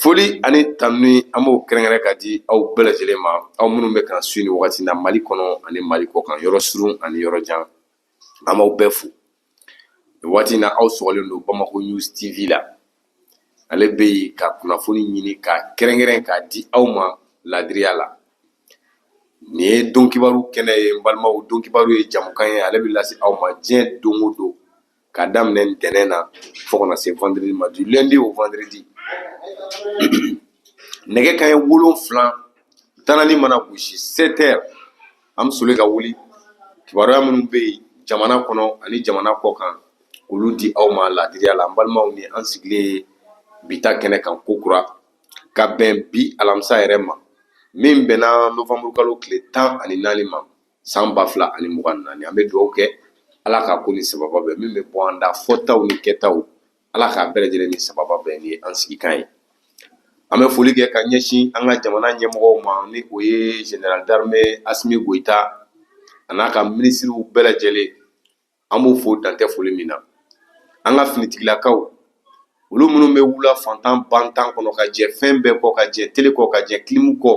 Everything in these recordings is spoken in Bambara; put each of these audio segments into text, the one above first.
foli ani tanuni an b'o kɛrɛnkɛrɛn k'a di aw bɛɛ lajɛlen ma aw minnu bɛ k'an sui nin wagati na mali kɔnɔ ani mali kɔkan yɔrɔ surun ani yɔrɔ jan an b'aw bɛɛ fo nin waati na aw sɔgɔlen don bamako news tv la ale bɛ yen ka kunnafoni ɲini ka kɛrɛnkɛrɛn k'a di aw ma laadiriya la nin ye don kibaru kɛnɛ ye n balimaw don kibaru ye jamukan ye ale bɛ lase aw ma diɲɛ don o don ka daminɛ ntɛnɛn na fo ka na se vendredi ma du lundi au vendredi nɛgɛ kanɲɛ wolonfila tanani mana gosi 7 heures an bɛ soli ka wuli kibaruya minnu bɛ yen jamana kɔnɔ ani jamana kɔkan k'olu di aw ma laadiriya la n balimaw ni an sigilen ye bi ta kɛnɛ kan kokura ka bɛn bi alamisa yɛrɛ ma min bɛnna novembre kalo tile tan ani naani ma san ba fila ani mugan naani an bɛ dugawu kɛ ala k'a ko ni sababa bɛn min bɛ bɔ an da fɔtaw ni kɛtaw ala k'a bɛɛ lajɛlen ni sababa bɛn ni an sigikan ye an bɛ foli kɛ ka ɲɛsin an ka jamana ɲɛmɔgɔw ma ni o ye général d'armée asimi goyita a n'a ka minisiriw bɛɛ lajɛlen an b'o fo dantɛ foli min na an ka finitigilakaw olu minnu bɛ wula fantan bantan kɔnɔ ka jɛ fɛn bɛɛ kɔ ka jɛ tele kɔ ka jɛ kilimu kɔ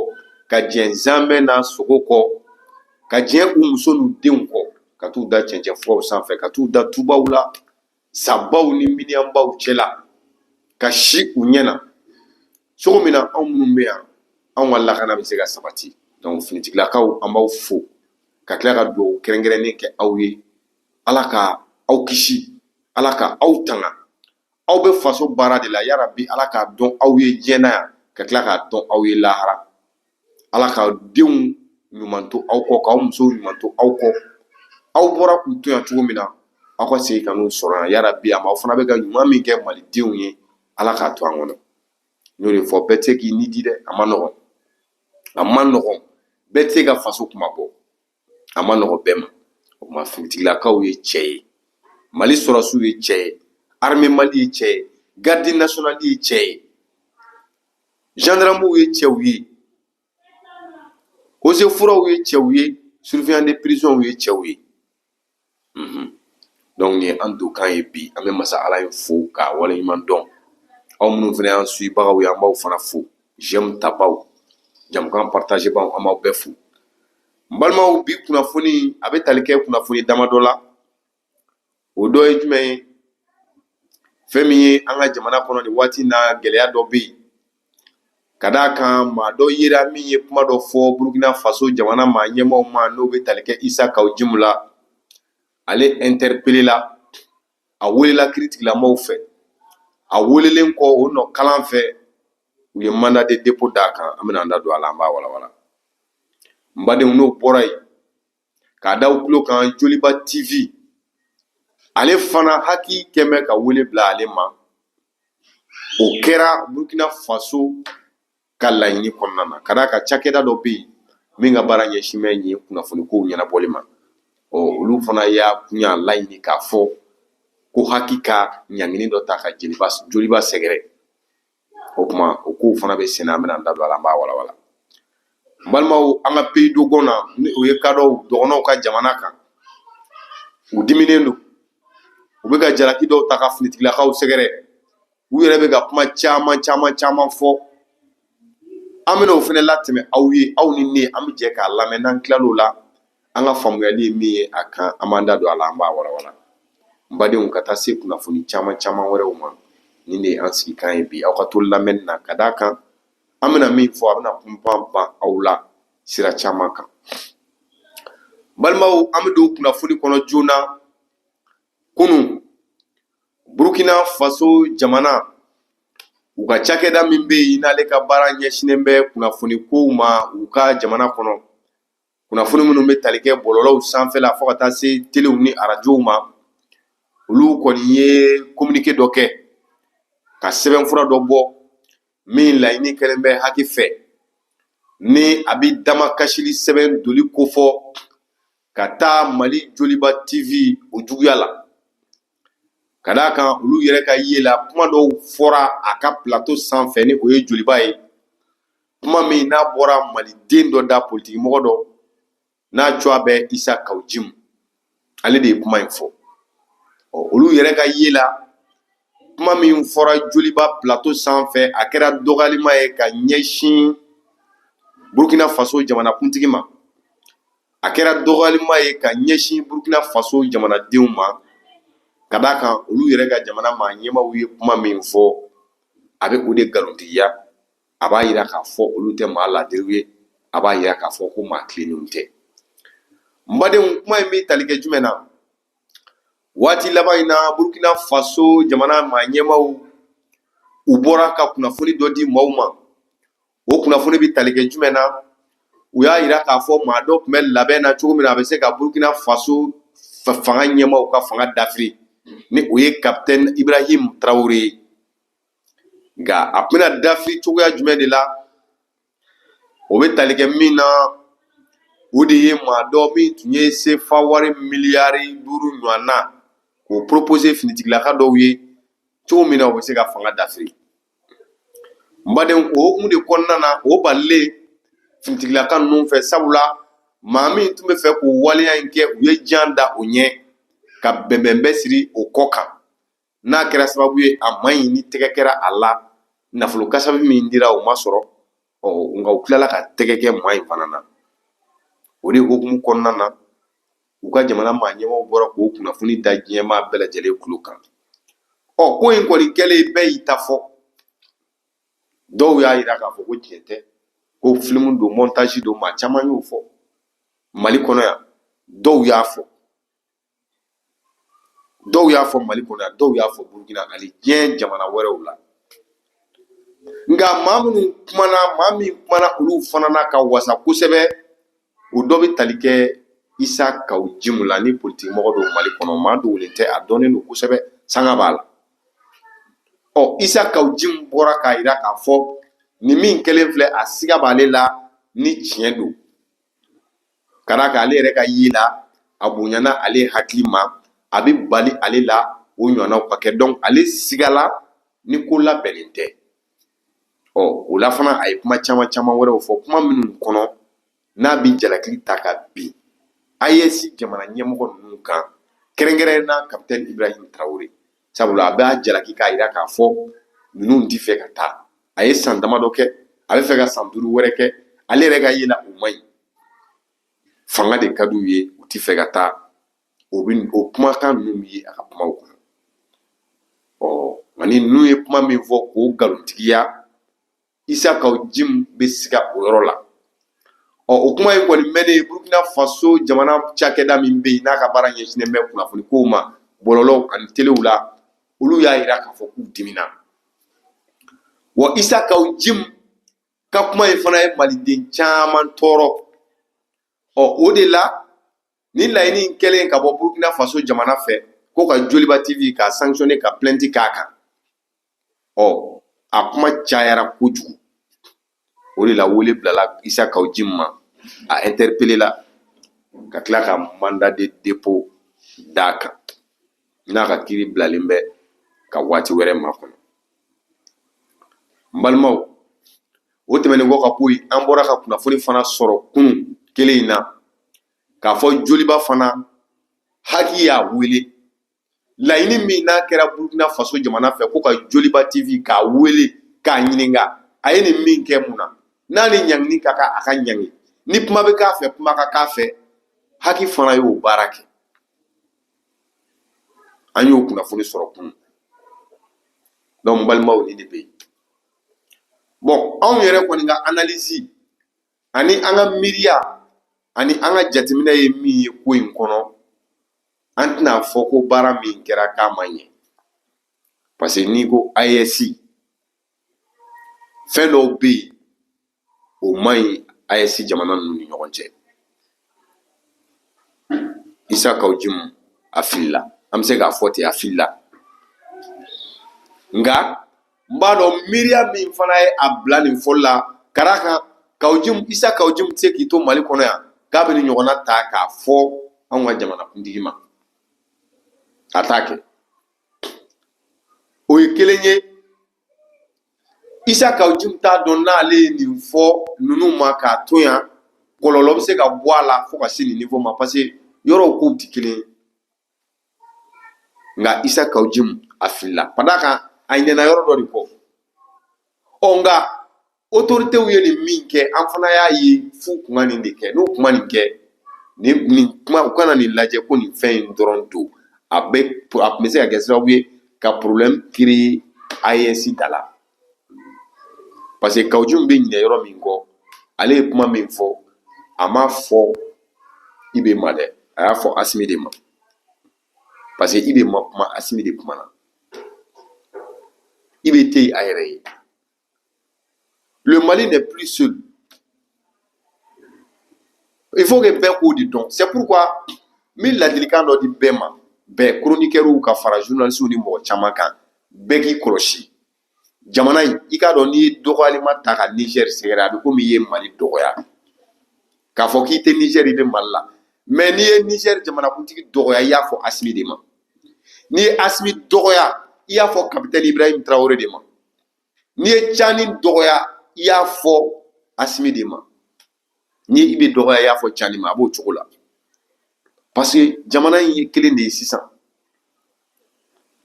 ka jɛ zamɛ n'a sogo kɔ ka jɛ u muso n'u denw kɔ ka t'u da cɛncɛn furaw sanfɛ ka t'u da tubaw la sabaw ni miniyanbaw cɛ la ka si u ɲɛ na cogo min na anw minnu bɛ yan anw ka lakana bɛ se ka sabati donc finitigilakaw an b'aw fo ka tila ka dugawu kɛrɛnkɛrɛnnen kɛ aw ye ala ka aw kisi ala ka aw tanga aw bɛ faso baara de la yarabi ala k'a dɔn aw ye diɲɛ na yan ka tila k'a dɔn aw ye lahara ala ka denw ɲuman to aw kɔ k'aw musow ɲuman to aw kɔ aw bɔra k'u to yan cogo min na aw ka segin ka n'u sɔrɔ yan yarabi ama aw fana bɛ ka ɲuman min kɛ malidenw ye ala k'a to an kɔnɔ n'o de fɔ bɛɛ tɛ se k'i ni di dɛ a man nɔgɔn a man nɔgɔn bɛɛ tɛ se ka faso kunmabɔ a man nɔgɔn bɛɛ ma o tuma finitigilakaw ye cɛ ye mali sɔrɔdasiw ye cɛ ye armée mali ye cɛ ye garde nationale ye cɛ ye gendarmew ye cɛw ye eaux et forêtw ye cɛw ye surveillant de prisonw ye cɛw ye mhm. donc nin ye an donkan ye bi an bɛ masa ala in fo k'a waleɲuman dɔn aw minnu fana y'an suibagaw ye an b'aw fana fo j'aime tabaw jamukan partagebaw an b'aw bɛɛ fo n balimaw bi kunnafoni a bɛ tali kɛ kunnafoni damadɔ la o dɔ ye jumɛn ye fɛn min ye an ka jamana kɔnɔ nin waati na gɛlɛya dɔ bɛ yen ka d' a kan maa dɔ yera min ye kuma dɔ fɔ burukina faso jamana maa ɲɛmaaw ma n' o bɛ tali kɛ isa kaw jimu la ale interpellé la a welela kiiritigɛlamaw fɛ a welelen kɔ o nɔ kalan fɛ u ye mandat de dépôt d' a kan an bɛna an da don a la an b'a walawala n badenw n'o bɔra yen k'a da u tulo kan joliba tv ale fana HAC kɛ bɛ ka wele bila ale ma o kɛra burukina faso ka laɲini kɔnɔna na ka d'a kan cakɛda dɔ bɛ yen min ka baara ɲɛsin bɛ nin kunnafoni kow ɲɛnabɔli ma ɔ olu fana y'a kun y'a laɲini k'a fɔ ko HAC ka ɲangini dɔ ta ka ji joliba sɛgɛrɛ o tuma o kow fana bɛ sen na an bɛna an da don a la an b'a walawala n balimaw an ka pays dogon na ni o ye kadɔw dɔgɔnɔw ka jamana kan u diminen don u bɛ ka jalaki dɔw ta ka finitigilakaw sɛgɛrɛ u yɛrɛ bɛ ka kuma caman caman caman fɔ an bɛna o fana latɛmɛ aw ye aw ni ne an bɛ jɛ k'a lamɛn n'an tilal'o la an ka faamuyali ye min ye a kan an b'an da don a la an b'a walawala n badenw ka taa se kunnafoni caman caman wɛrɛw ma nin de ye an sigikan ye bi aw ka to lamɛnni na ka d' a kan an bɛna min fɔ a bɛna kunpan ban aw la sira caman kan balimaw an bɛ don kunnafoni kɔnɔ joona kunun burukina faso jamana u ka cakɛda min bɛ yen n'ale ka baara ɲɛsinnen bɛ kunnafoni kow ma u ka jamana kɔnɔ kunnafoni minnu bɛ tali kɛ bɔlɔlɔw sanfɛla fo ka taa se telew ni arajow ma olu kɔni ye kominike dɔ kɛ ka sɛbɛnfura dɔ bɔ min laɲini kɛlen bɛ HAC fɛ ni a bɛ damakasili sɛbɛn doli kofɔ ka taa mali joliba tv o juguya la ka d' a kan olu yɛrɛ ka ye la kuma dɔw fɔra a ka plato sanfɛ ni o ye joliba ye kuma min n'a bɔra maliden dɔ da politikimɔgɔ dɔ n'a tɔgɔ bɛ isa kaw jimu ale de ye kuma in fɔ ɔ olu yɛrɛ ka ye la kuma min fɔra joliba plato sanfɛ a kɛra dɔgɔyalima ye ka ɲɛsin burkina faso jamanakuntigi ma a kɛra dɔgɔyalima ye ka ɲɛsin burkina faso jamanadenw ma ka d'a kan olu yɛrɛ ka jamana maa ɲɛmaaw ye kuma min fɔ a bɛ o de nkalontigiya a b'a jira k'a fɔ olu tɛ maa laadiriw ye, a b'a jira k'a fɔ ko maa tilennenw tɛ. N badenw kuma in bɛ tali kɛ jumɛn na? Waati laban in na Burukina Faso jamana maa ɲɛmaaw u bɔra ka kunnafoni dɔ di maaw ma, o kunnafoni bɛ tali kɛ jumɛn na? U y'a jira k'a fɔ maa dɔ tun bɛ labɛn na cogo min na, a bɛ se ka Burukina Faso fanga ɲɛmaaw ka fanga dafiri, ni o ye Capitaine Ibrahim Traore ye. nka a bɛna dafiri cogoya jumɛn de la o bɛ tali kɛ min na o de ye maa dɔ min tun ye sefa wari miliyari duuru ɲɔgɔn na k'o poropose finitigilaka dɔw ye cogo min na u bɛ se ka fanga dafiri n badenw o hukumu de kɔnɔna na o balilen finitigilaka ninnu fɛ sabula maa min tun bɛ fɛ k'o waleya in kɛ u ye jan da o ɲɛ ka bɛnbɛnbɛn siri o kɔ kan n'a kɛra sababu ye a ma ɲɛ ni tɛgɛ kɛra a la nafolo kasabi min dira o ma sɔrɔ ɔ nka u tilala ka tɛgɛ kɛ maa in fana na o de hukumu kɔnɔna na u ka jamana maa ɲɛmaa bɔra k'o kunnafoni da diɲɛmaa bɛɛ lajɛlen tulo kan ɔ ko in kɔni kɛlen bɛɛ y'i ta fɔ dɔw y'a yira k'a fɔ ko tiɲɛ tɛ ko filimu don mɔntazi don maa caman y'o fɔ mali kɔnɔ yan dɔw y'a fɔ dɔw y'a fɔ mali kɔnɔ yan dɔw y'a fɔ burukina hali diɲɛ jamana wɛrɛw la nka maa minnu kumana maa min kumana olu fana na ka wasa kosɛbɛ o dɔ bɛ tali kɛ isa kaw jimu la ni politiki mɔgɔ don mali kɔnɔ maa dogolen tɛ a dɔnnen don kosɛbɛ sanga b'a la ɔ isa kaw jimu bɔra k'a yira k'a fɔ nin min kɛlen filɛ a siga b'ale la ni tiɲɛ don ka d'a kan ale yɛrɛ ka ye la a bonyana ale hakili ma a bɛ bali ale la o ɲɔgɔnnaw ka kɛ donc ale sigala ni ko labɛnnen tɛ ɔ o la fana a ye kuma caman caman wɛrɛw fɔ kuma minnu kɔnɔ n'a bɛ jalaki ta ka bin AES jamana ɲɛmɔgɔ ninnu kan kɛrɛnkɛrɛnnenya la capitaine Ibrahim Traore sabula a b'a jalaki k'a jira k'a fɔ ninnu tɛ fɛ ka taa a ye san damadɔ kɛ a bɛ fɛ ka san duuru wɛrɛ kɛ ale yɛrɛ ka ye la o man ɲi fanga de ka d'u ye u tɛ fɛ ka taa o kumakan ninnu bɛ ye a ka kumaw kɔnɔ ɔ nka ni ninnu ye kuma min fɔ k'o nkalontigiya isa kaw jimu bɛ siga o yɔrɔ la ɔ o kuma in kɔni mɛnnen burukina faso jamana cakɛda min bɛ yen n'a ka baara ɲɛsinnen bɛ kunnafoni kow ma bɔlɔlɔw ani telew la olu y'a jira k'a fɔ k'u dimina wa isa kaw jimu ka kuma in fana ye maliden caman tɔɔrɔ ɔ o de la ni laɲini in kɛlen ka bɔ burukina faso jamana fɛ ko ka joliba TV ka sanctionner ka plainte k'a kan ɔ a kuma cayara kojugu o de la wele bilala isa kaw jimu ma a interpellé la ka tila ka mandat de dépôt d'a kan n'a ka kiiri bilalen bɛ ka waati wɛrɛ makɔnɔ n balimaw o tɛmɛnen kɔ ka bɔ yen an bɔra ka kunnafoni fana sɔrɔ kunun kelen in na k'a fɔ joliba fana haki y'a wele laɲini min n'a kɛra burukina faso jamana fɛ ko ka joliba tv k'a wele k'a ɲininka a ye nin min kɛ mun na n'a ni ɲangini ka kan a ka ɲangi ni kuma bɛ k'a fɛ kuma ka k'a fɛ haki fana y'o baara kɛ an y'o kunnafoni sɔrɔ kunun donc balimaw nin de bɛ yen bon anw yɛrɛ kɔni ka analyse ani an ka miiriya ani an ka jateminɛ ye min ye ko in kɔnɔ an tɛna fɔ ko baara min kɛra k'a ma ɲɛ parce que n'i ko AES fɛn dɔw bɛ yen o man ɲi AES jamana ninnu ni ɲɔgɔn cɛ isa kawu jimu a filila an bɛ se k'a fɔ ten a filila nka n b'a dɔn miiriya min fana ye a bila nin fɔli la ka d'a kan kawu jimu isa kawu jimu tɛ se k'i to mali kɔnɔ yan k'a bɛ nin ɲɔgɔnna ta k'a fɔ anw ka jamanakuntigi ma a t'a kɛ o ye kelen ye isa kawu jimu t'a dɔn n'ale ye nin fɔ ninnu ma k'a to yan kɔlɔlɔ bɛ se ka bɔ a la fo ka se nin niveau ma parce que yɔrɔw kow tɛ kelen nka isa kawu jimu a filila ka d'a kan a ɲinɛna yɔrɔ dɔ de kɔ ɔ nka autoritéw ye nin min kɛ an fana y'a ye f'u kun ka nin de kɛ n'u kun ma nin kɛ nin kuma u kana nin lajɛ ko nin fɛn in dɔrɔn don a bɛ a tun bɛ se ka kɛ sababu ye ka problème créer AES da la parce que kawu jimu bɛ ɲinɛ yɔrɔ min kɔ ale ye kuma min fɔ a m'a fɔ IB ma dɛ a y'a fɔ asimi de ma parce que IB ma kuma asimi de kumana IB tɛ a yɛrɛ ye Le Mali n'est plus seul. Il faut que bɛɛ k'o de dɔn c'est pourquoi n bɛ ladilikan dɔ di bɛɛ ma bɛɛ chroniqueurw ka fara journalistes ni mɔgɔ caman kan bɛɛ k'i kɔlɔsi jamana in i k'a dɔn n'i ye dɔgɔyalima ta ka Niger sɛgɛrɛ a bɛ komi i ye Mali dɔgɔya k'a fɔ k'i tɛ Niger i bɛ Mali la mais n'i ye Niger jamanakuntigi dɔgɔya i y'a fɔ Asimi de ma n'i ye Asimi dɔgɔya i y'a fɔ capitaine Ibrahim Traore de ma. n'i ye cani dɔgɔya i y'a fɔ asimi de ma n'i ye IB dɔgɔya i y'a fɔ cani ma a b'o cogo la parce que jamana in ye kelen de ye sisan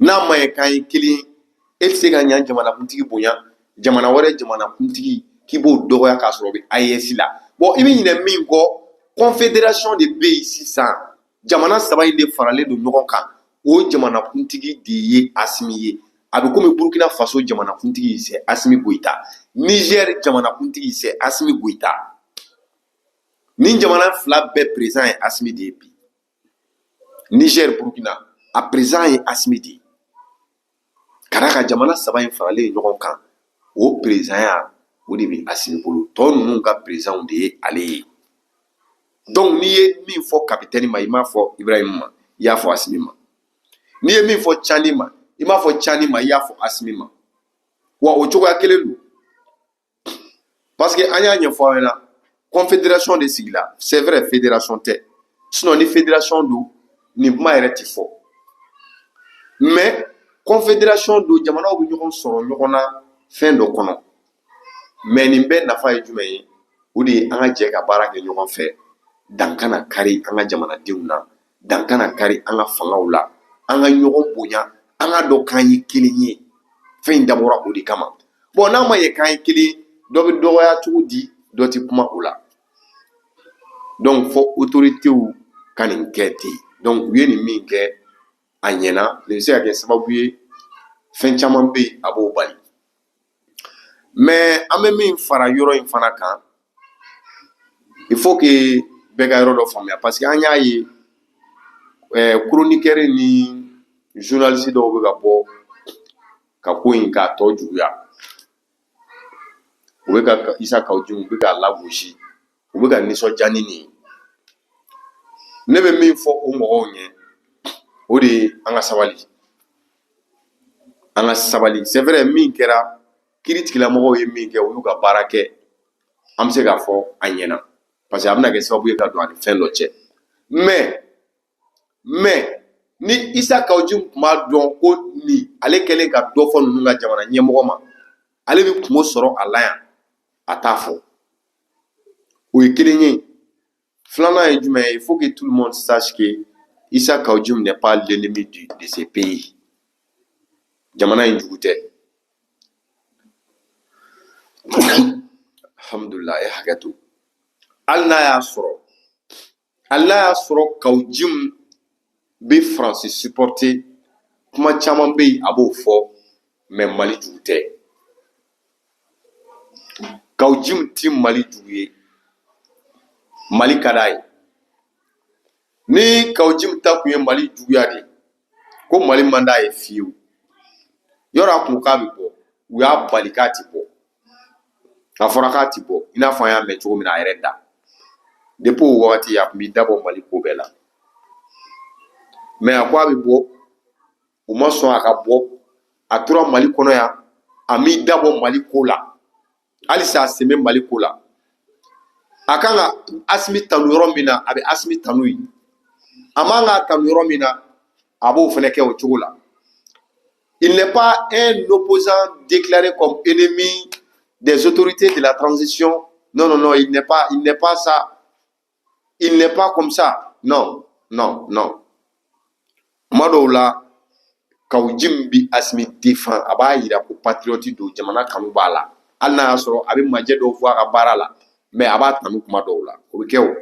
n'a ma ye k'an ye kelen e tɛ se ka yan jamanakuntigi bonya jamana wɛrɛ jamanakuntigi k'i b'o dɔgɔya k'a sɔrɔ o bɛ AES la bon i bɛ ɲinɛ min kɔ confederation de bɛ yen sisan. jamana saba in de faralen don ɲɔgɔn kan o jamanakuntigi de ye asimi ye a bɛ komi burukina faso jamanakuntigi sɛ asimi goyita nizɛr jamanakuntigi sɛ asimi goyita nin jamana fila bɛɛ perezan ye asimi de ye bi nizɛr burukina a perezan ye asimi de ye ka d'a kan jamana saba in faralen ye ɲɔgɔn kan o perezanya o de bɛ asimi bolo tɔ ninnu ka perezanw de ye ale ye donc n'i ye min fɔ kapitɛni ma i m'a fɔ ibrahimu ma i y'a fɔ asimi ma n'i ye min fɔ cani ma i m'a fɔ cani ma i y'a fɔ asimi ma wa o cogoya kelen don Parce que an y'a ɲɛfɔ aw ɲɛna confédération de sigila c'est vrai fédération tɛ sinon ni fédération don nin kuma yɛrɛ ti fɔ mais confédération don jamanaw bɛ ɲɔgɔn sɔrɔ ɲɔgɔn na fɛn dɔ kɔnɔ mais nin bɛɛ nafa ye jumɛn ye o de ye an ka jɛ ka baara kɛ ɲɔgɔn fɛ dan kana kari an ka jamanadenw na dan kana kari an ka fangaw la an ka ɲɔgɔn bonya an ka dɔn k'an ye kelen ye fɛn in dabɔra o de kama bɔn n'a ma ye k'an ye kelen dɔ bɛ dɔgɔya cogo di dɔ tɛ kuma o la donc fɔ otoritew ka nin kɛ ten donc u ye nin min kɛ a ɲɛna nin bɛ se ka kɛ sababu ye fɛn caman bɛ yen a b'o bali mɛ an bɛ min fara yɔrɔ in fana kan il faut que bɛɛ ka yɔrɔ dɔ faamuya parce que an y'a ye eh, chroniqueur ni journaliste dɔw bɛ ka bɔ ka ko in k'a tɔ juguya u bɛ ka isa kaw jim u bɛ k'a lagosi u bɛ ka nisɔndiya ni nin ye ne bɛ min fɔ o mɔgɔw ɲɛ o de ye an ka sabali an ka sabali c'est vrai min kɛra kiritigɛlamɔgɔw ye min kɛ u y'u ka baara kɛ an bɛ se k'a fɔ a ɲɛna parce que a bɛna kɛ sababu ye ka don an ni fɛn dɔ cɛ mɛ mɛ ni isa kaw jim tun b'a dɔn ko ni ale kɛlen ka dɔ fɔ ninnu ka jamana ɲɛmɔgɔ ma ale bɛ kunko sɔrɔ a la yan a t'a fɔ o ye kelen ye filanan ye jumɛn ye il faut que tout le monde sache que Issa Kaou Djim n'est pas l'ennemi de, de ce pays jamana in jugu tɛ alhamdulillah e hakɛ to hali n'a y'a sɔrɔ Hali a y'a sɔrɔ kaw jim bɛ faransi siporte kuma caman bɛ yen a b'o fɔ mɛ mali jugu tɛ kaw jim tɛ mali jugu ye mali ka d'a ye ni kaw jim ta tun ye mali juguya de ye ko mali man d'a ye fiyewu yɔrɔ a kun k'a bɛ bɔ u y'a bali k'a ti bɔ a fɔra k'a ti bɔ i n'a fɔ an y'a mɛn cogo min na a yɛrɛ da depuis o wagati a kun b'i dabɔ mali ko bɛɛ la mais a ko a bɛ bɔ u ma sɔn a ka bɔ a tora mali kɔnɔ yan a m'i dabɔ mali ko la halisa a sen bɛ mali ko la a kan ka asimi tanu yɔrɔ min na a bɛ asimi tanu yen a man ka tanu yɔrɔ min na a b'o fana kɛ o cogo la il n'est pas un opposant déclaré comme ennemi des autorités de la transition non non non il n'est pas il n'est pas ça il n'est pas comme ça non non non kuma dɔw la kawjim bi asimi défend a b'a yira ko patriyɔti don jamana kanu b'a la hali n'a y'a sɔrɔ a bɛ majɛ dɔw fɔ a ka baara la mais a b'a tanu kuma dɔw la o bɛ kɛ o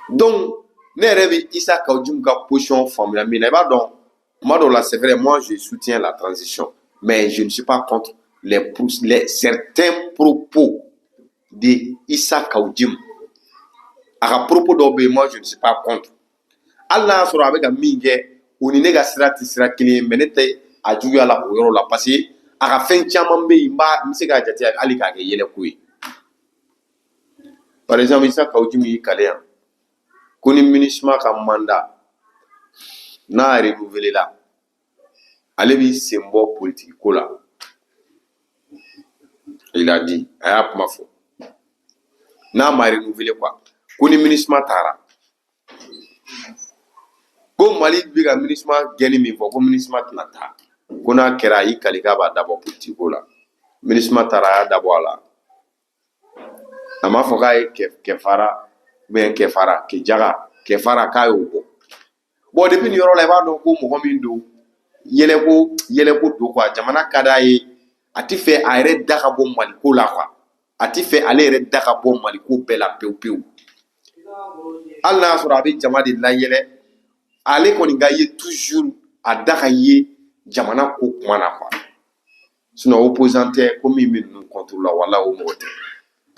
donc ne yɛrɛ bɛ isa kawjim ka position faamuya min na i b'a dɔn kuma dɔw la c'est vrai moi je soutiens la transition mais je ne suis pas contre euh certains propos de Issa Kawjim a ka propos dɔw bɛ yen moi je ne suis pas contre hali n'a y'a sɔrɔ a bɛ ka min kɛ o ni ne ka sira tɛ sira kelen ye mais ne tɛ a juguya la o yɔrɔ la parce que a ka fɛn caman bɛ yen n b'a n bɛ se k'a jate hali k'a kɛ yɛlɛko ye par exemple Issa Kawjim y'i kali yan ko ni MINUSMA ka mandat n'a renouvelé la ale b'i sen bɔ politiki ko la il a dit a y'a kuma fɔ n'a ma renouvelé quoi ko ni minisuma taara ko mali bɛ ka minisuma gɛnni min fɔ ko minisuma tɛna taa ko n'a kɛra a y'i kali k'a b'a dabɔ politiki ko la minisuma taara a y'a dabɔ a la a m'a fɔ k'a ye kɛfara ou bien kɛfara kɛjaga kɛfara k'a y'o bɔ bon depuis nin yɔrɔ la i b'a dɔn ko mɔgɔ min don yɛlɛko yɛlɛko don quoi jamana ka d'a ye a tɛ fɛ a yɛrɛ da ka bɔ maliko la quoi a tɛ fɛ ale yɛrɛ da ka bɔ maliko bɛɛ la pewu pewu hali n'a y'a sɔrɔ a bɛ jama de layɛlɛ ale kɔni ka ye toujours a da ka ye jamana ko kuma na quoi sinon opposant tɛ ko min bɛ ninnu contre la wala o mɔgɔ tɛ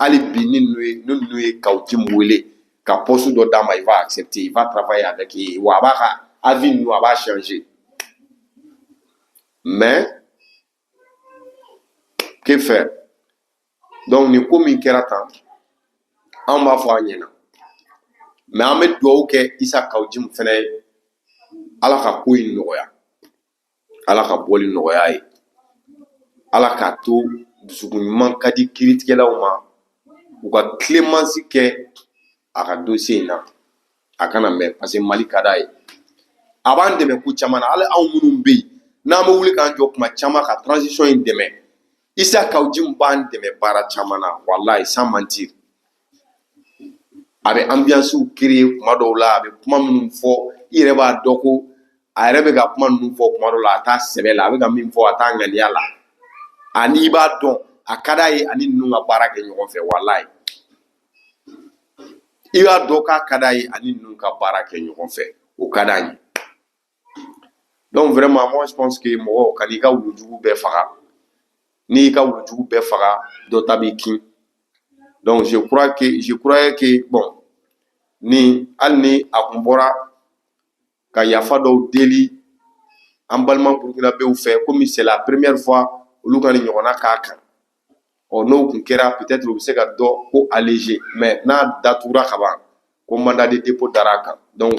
hali bi ni ninnu ye kawjim wele ka poste dɔ d'a ma il va accepter il va travailler avec eux wa a b'a ka avis ninnu a b'a changer mais que faire donc nin ko min kɛra tan anw b'a fɔ a ɲɛna mais an bɛ dugawu kɛ isa kawjim fana ye ala ka ko in nɔgɔya ala ka bɔli nɔgɔya ye ala k'a to dusukun ɲuman ka di kiritigɛlaw ma u ka clémence kɛ a ka dossier in na a kana mɛn parce que mali ka d'a ye a b'an dɛmɛ ko caman na hali anw minnu bɛ yen n'an bɛ wuli k'an jɔ kuma caman ka transition in dɛmɛ Issa Kaou Djim b'an dɛmɛ baara caman na walayi sans mentir a bɛ ambiance créer kuma dɔw la a bɛ kuma minnu fɔ i yɛrɛ b'a dɔn ko a yɛrɛ bɛ ka kuma ninnu fɔ kuma dɔw la a t'a sɛbɛ la a bɛ ka min fɔ a t'a ŋaniya la ani i b'a dɔn a ka d'a ye ani ninnu ka baara kɛ ɲɔgɔn fɛ walayi i b'a dɔn k'a ka d'a ye ani ninnu ka baara kɛ ɲɔgɔn fɛ o ka d'a ye donc vraiment moi je pense que mɔgɔ kan'i ka wulujugu bɛɛ faga n'i y'i ka wulujugu bɛɛ faga dɔ ta b'i kin donc je crois que je croyais que bon ni hali ni a kun bɔra ka yafa dɔw deli an balima burukinabew fɛ komi c'est la première fois olu ka nin ɲɔgɔnna k'a kan ɔ n'o kun kɛra peut-être o bɛ se ka dɔ ko alléger mais n'a datugura ka ban ko mandat de dépôt dara a kan donc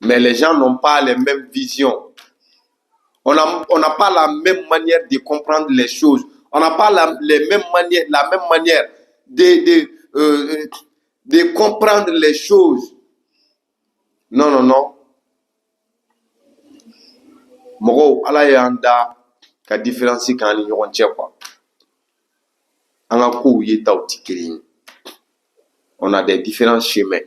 Mais les gens n'ont pas les mêmes visions. On n'a pas la même manière de comprendre les choses. On n'a pas la, les mêmes manières, la même manière de, de, euh, de comprendre les choses. Non, non, non. Mɔgɔ, ala y'an da ka différence k'an ni ɲɔgɔn cɛ quoi an ka kow yetaw tɛ kelen ye on a des différents chemins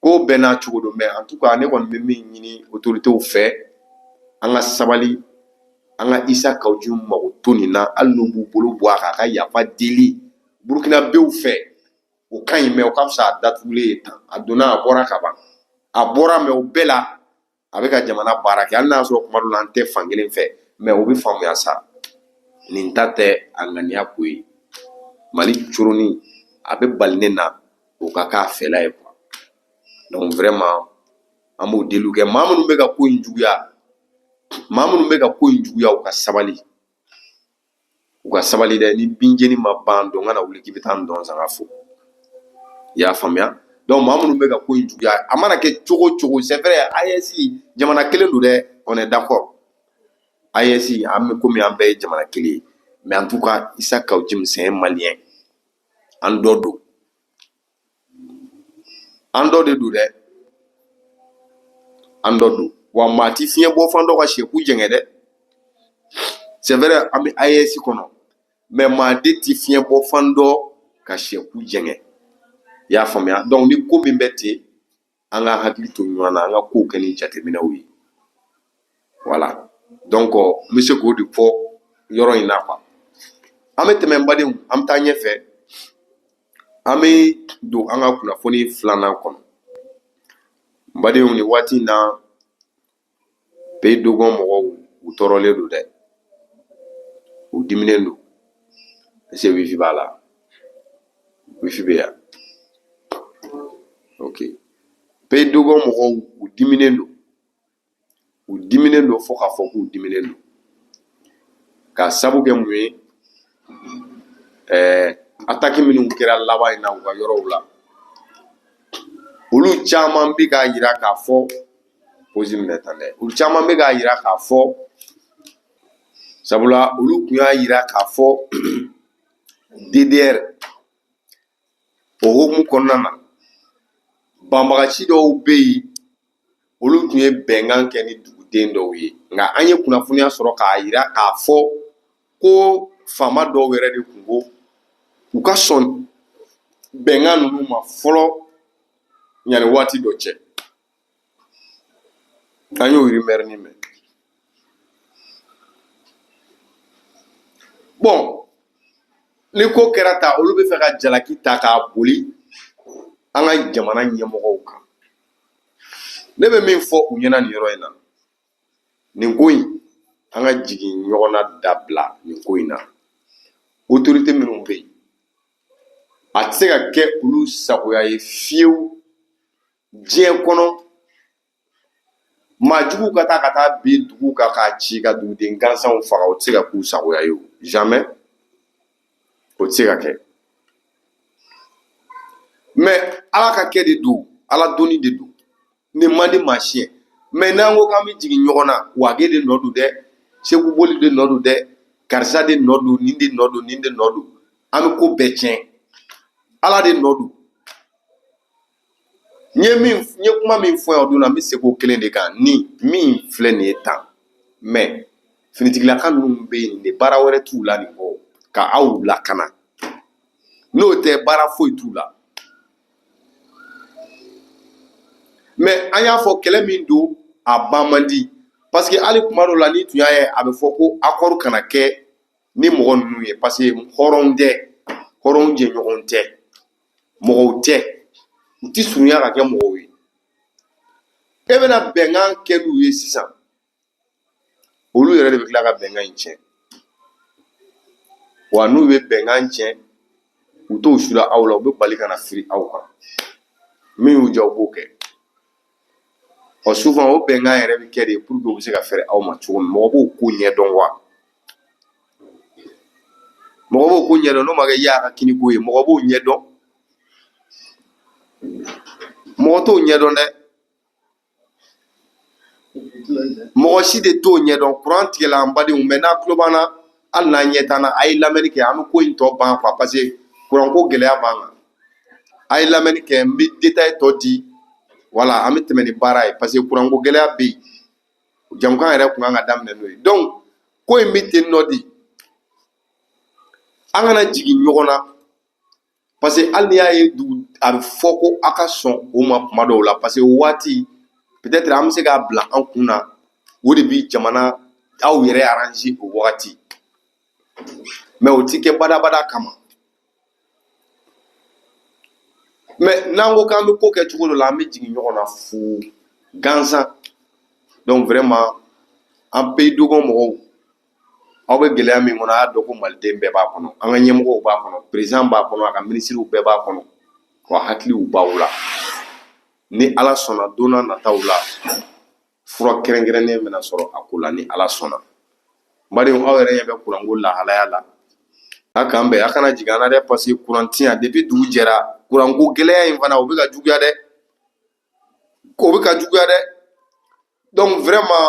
ko bɛɛ n'a cogo don mais en tout cas ne kɔni bɛ min ɲini autoritéw fɛ an ka sabali an ka Issa Kaou Djim ka ko to nin na hali n'u b'u bolo bɔ a kan ka yafa deli burukinabew fɛ o ka ɲi mais o ka fisa a datugulen ye tan a donna a bɔra ka ban a bɔra mais o bɛɛ la a bɛ ka jamana baara kɛ hali n'a sɔrɔ kuma dɔw la an tɛ fan kelen fɛ mais o bɛ faamuya sa nin ta tɛ a ŋaniya ko ye mali coronin a bɛ bali ne na o ka k'a fɛla ye quoi donc vraiment an b'o deliw kɛ maa minnu bɛ ka ko in juguya maa minnu bɛ ka ko in juguya u ka sabali u ka sabali dɛ ni binjeni ma ban ntɔn kana wuli k'i bɛ taa ntɔn sanga fo i y'a faamuya donc maa minnu bɛ ka ko in juguya a mana kɛ cogo o cogo c'est vrai AES jamana kelen don dɛ on est d'accord AES an bɛ komi an bɛɛ ye jamana kelen ye mais en tout cas Issa Kaou Djim c'est un Malien an dɔ don an dɔ de don dɛ an dɔ don wa maa ti fiɲɛ bɔ fan dɔn ka syɛ ku jɛngɛ dɛ c'est vrai an bɛ AES kɔnɔ mais maa de ti fiɲɛ bɔ fan dɔn ka syɛ ku jɛngɛ i y'a faamuya donc ni ko min bɛ ten an ka hakili to ɲɔgɔn na an ka ko kɛ ni jateminɛw ye voilà donc n bɛ se k'o de fɔ yɔrɔ in na quoi an bɛ tɛmɛ n badenw an bɛ taa ɲɛfɛ an bɛ don an ka kunnafoni filanan kɔnɔ n badenw nin waati in na pays dogon mɔgɔw u tɔɔrɔlen don dɛ u diminen don se wifi b'a la wifi bɛ yan ok pays dogon mɔgɔw u diminen don u diminen don fo k'a fɔ k'u diminen don ka sabu kɛ mun ye ɛɛ attaque minnu kɛra laban in na u ka yɔrɔw la olu caman bɛ k'a yira k'a fɔ posi minɛ tan dɛ olu caman bɛ k'a yira k'a fɔ sabula olu tun y'a yira k'a fɔ ddr o hukumu kɔnɔna na banbagaci dɔw bɛ yen olu tun ye bɛnkan kɛ ni duguden dɔw ye nka an ye kunnafoniya sɔrɔ k'a yira k'a fɔ ko faama dɔw yɛrɛ de tun ko u ka sɔn bɛnkan ninnu ma fɔlɔ yanni waati dɔ cɛ an y'o rumeur nin mɛn bon ni ko kɛra tan olu b'a fɛ ka jalaki ta k'a boli an ka jamana ɲɛmɔgɔw kan ne bɛ min fɔ u ɲɛna nin yɔrɔ in na nin ko in an ka jigin ɲɔgɔn na dabila nin ko in na autorité minnu bɛ yen a tɛ se ka kɛ olu sagoya ye fiyewu diɲɛ kɔnɔ maa jugu ka taa ka taa bin dugu kan k'a ci ka duguden gansanw faga o tɛ se ka k'u sagoya ye o jamais o tɛ se ka kɛ mais ala ka kɛ de don ala donni de don nin man di maa si ye mais n'an ko k'an bɛ jigin ɲɔgɔn na wage de nɔ don dɛ seku boli de nɔ don dɛ karisa de nɔ don nin de nɔ don nin de nɔ don an bɛ ko bɛɛ tiɲɛ ala de nɔ don n ye min n ye kuma min fɔ yan o don na n bɛ segin o kelen de kan ni min filɛ nin ye tan mais finitigilaka ninnu bɛ yen de baara wɛrɛ t'u la nin kɔ ka aw lakana n'o tɛ baara foyi t'u la mais an y'a fɔ kɛlɛ min don a ban man di parce que hali kuma dɔw la n'i tun y'a ye a bɛ fɔ ko accord kana kɛ ni mɔgɔ ninnu ye parce que hɔrɔn tɛ hɔrɔn jɛɲɔgɔn tɛ mɔgɔw tɛ u ti surunya ka kɛ mɔgɔw ye e bɛna bɛnkan kɛ n'u ye sisan olu yɛrɛ de bɛ tila ka bɛnkan in tiɲɛ wa n'u bɛ bɛnkan tiɲɛ u t'o sula aw la u bɛ bali ka na firi aw kan min y'u diya u b'o kɛ ɔ souvent o bɛnkan yɛrɛ bɛ kɛ de pour que u bɛ se ka fɛrɛ aw ma cogo min mɔgɔ b'o ko ɲɛdɔn wa mɔgɔ b'o ko ɲɛdɔn n'o ma kɛ y'a ka kini ko ye mɔgɔ b'o ɲɛdɔn mɔgɔ t'o ɲɛdɔn dɛ mɔgɔ si de t'o ɲɛdɔn kuran tigɛla an badenw mɛ n'a tulo b'an na hali n'a ɲɛ t'an na a ye lamɛnni kɛ an bɛ ko in tɔ ban quoi parce que kuranko gɛlɛya b'an kan a ye lamɛnni kɛ n bɛ détail tɔ di voilà an bɛ tɛmɛ ni baara ye parce que kuranko gɛlɛya bɛ yen jamukan yɛrɛ kun kan ka daminɛ n'o ye donc ko in bɛ ten nɔ de an kana jigin ɲɔgɔn na parce que hali n'i y'a ye dugu a bɛ fɔ ko aw ka sɔn o ma kuma dɔw la parce que o waati peut-être an bɛ se k'a bila an kun na o de bi jamana aw yɛrɛ arranger o wagati mais o ti kɛ badabada kama mais n'an ko k'an bɛ ko kɛ cogo dɔ la an bɛ jigin ɲɔgɔn na fu gansan donc vraiment an pays dogɔn mɔgɔw aw bɛ gɛlɛya min kɔnɔ a y'a dɔn ko maliden bɛɛ b'a kɔnɔ an ka ɲɛmɔgɔw b'a kɔnɔ président b'a kɔnɔ a ka minisiriw bɛɛ b'a kɔnɔ ko hakiliw b'aw la ni ala sɔnna don nataw la fura kɛrɛnkɛrɛnnen bɛna sɔrɔ a ko la ni ala sɔnna badenw aw yɛrɛ ɲɛ bɛ kuranko lahalaya la a k'an bɛn a kana jigin an na dɛ parce que kuran ti yan depuis dugu jɛra kuranko gɛlɛya in fana o bɛ ka juguya dɛ k'o bɛ ka juguya dɛ donc vraiment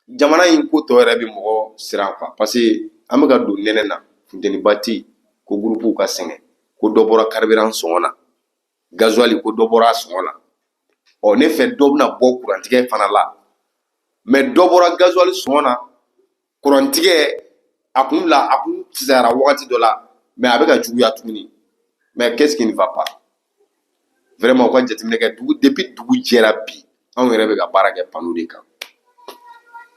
jamana in ko tɔ yɛrɛ bɛ mɔgɔ siran quoi parce que an bɛ ka don nɛnɛ na funteniba tɛ yen ko gurupuw ka sɛgɛn ko dɔ bɔra carburant sɔngɔ na gazuwali ko dɔ bɔra a sɔngɔ la ɔ ne fɛ dɔ bɛna bɔ kurantigɛ fana la mais dɔ bɔra gazuwali sɔngɔ na kurantigɛ a kun la a kun fisayara wagati dɔ la mais a bɛ ka juguya tuguni mais qu'est-ce qui ne va pas vraiment u ka jateminɛ kɛ depuis dugu jɛra bi anw yɛrɛ bɛ ka baara kɛ panneau de kan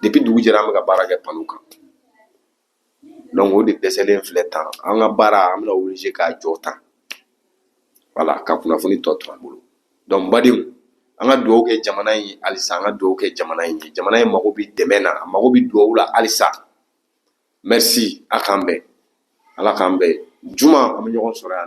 depuis dugu jɛra an bɛ ka baara kɛ panneau kan donc o de dɛsɛlen filɛ tan an ka baara an bɛna obligé k'a jɔ tan voilà ka kunnafoni tɔ to an bolo donc badenw an ka dugawu kɛ jamana in ye halisa an ka dugawu kɛ jamana in ye jamana in mago bɛ dɛmɛ na a mago bɛ dugawu la halisa merci a k'an bɛn ala k'an bɛn juma an bɛ ɲɔgɔn sɔrɔ yan